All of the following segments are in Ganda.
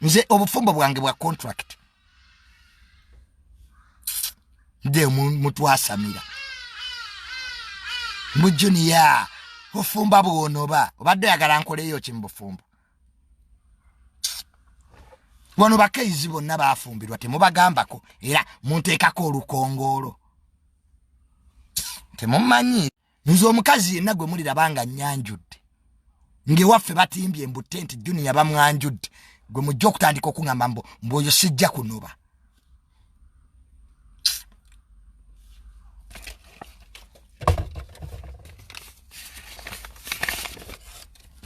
nze obufumbo bwange bwa contract nde mutwasamira mu junia bufumba bwonoba obadde oyagala nkoleyo ki mu bufumbo wano bakaizi bonna bafumbirwa temubagambako era munteekako olukongoolo temumanyi nze omukazi yenna gwe muliraba nga nnyanjudde ng'ewaffe batimbye mbu tenti juniya bamwanjudde gwe mujja okutandika okuŋamba mbu mbu oyo sijja kunoba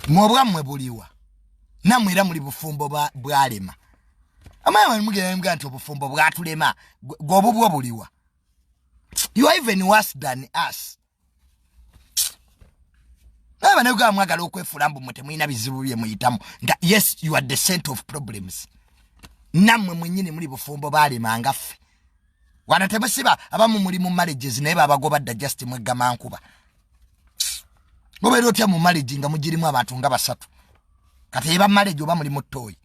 mwobwammwe buliwa namwe era muli bufumbo bwalema amaye mugenda mugamba nti obufumbo bwatulema gwobubwo buliwa you are even worse than us naye banayuganda mwagala okwefuula mbu mwe temulina bizibu bye muyitamu nga yes you are the cent of problems nammwe mwenyini muli bufumbo baalemanga ffe wana temusiba abamu muli mu marriages naye babagoba dda just mweggama nkuba obeera otya mu marriage nga mugirimu abantu nga basatu kati eba marriage oba muli mu tooyi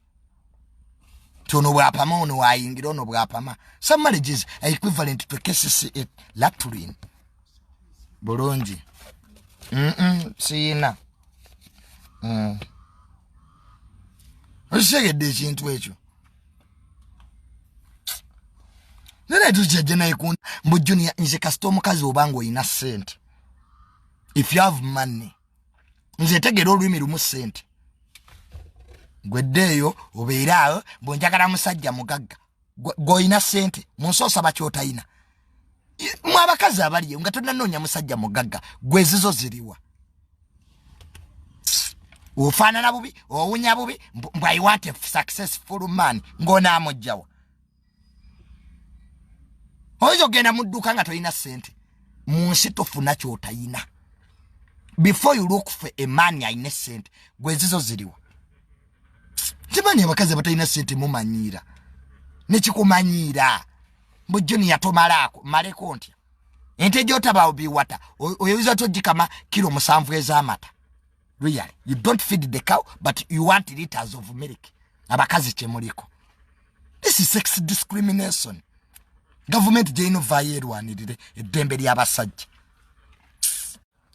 nti ono bwapama ono wayingira ono bwapama some marriages are equivalent to cases at latrin bulungi siyina mm. okitegedde ekintu ekyo nene tukyajja naye ku mbu junia nze kasita omukazi obanga olina sente if you have money nze tegera olulimi lumu sente gweddeeyo obeere awo bwenjagala musajja mugagga gwolina sente munsi osaba kyotayina mwe abakazi abaliyo nga tonanoonya musajja mugagga gwezizo ziriwa ofaanana bubi owunya bubi mbwayiwante successful man ng'onaamujjawa oyinza okugenda mu dduuka nga tolina ssente mu nsi tofuna kyotayina before you look for a man alina essente gwezizo ziriwa kimani abakazi abatalina sente mumanyiira nekikumanyiira mbu juniya tomalaako maleko ntya ente gyotabaawo biwata oyinza togikama kiro musanvu ez'amata really you don't feed the cow but you want liters of milk abakazi kyemuliko this is sex discrimination gavumenti gyeyina ovaayo erwanirire eddembe ly'abasajja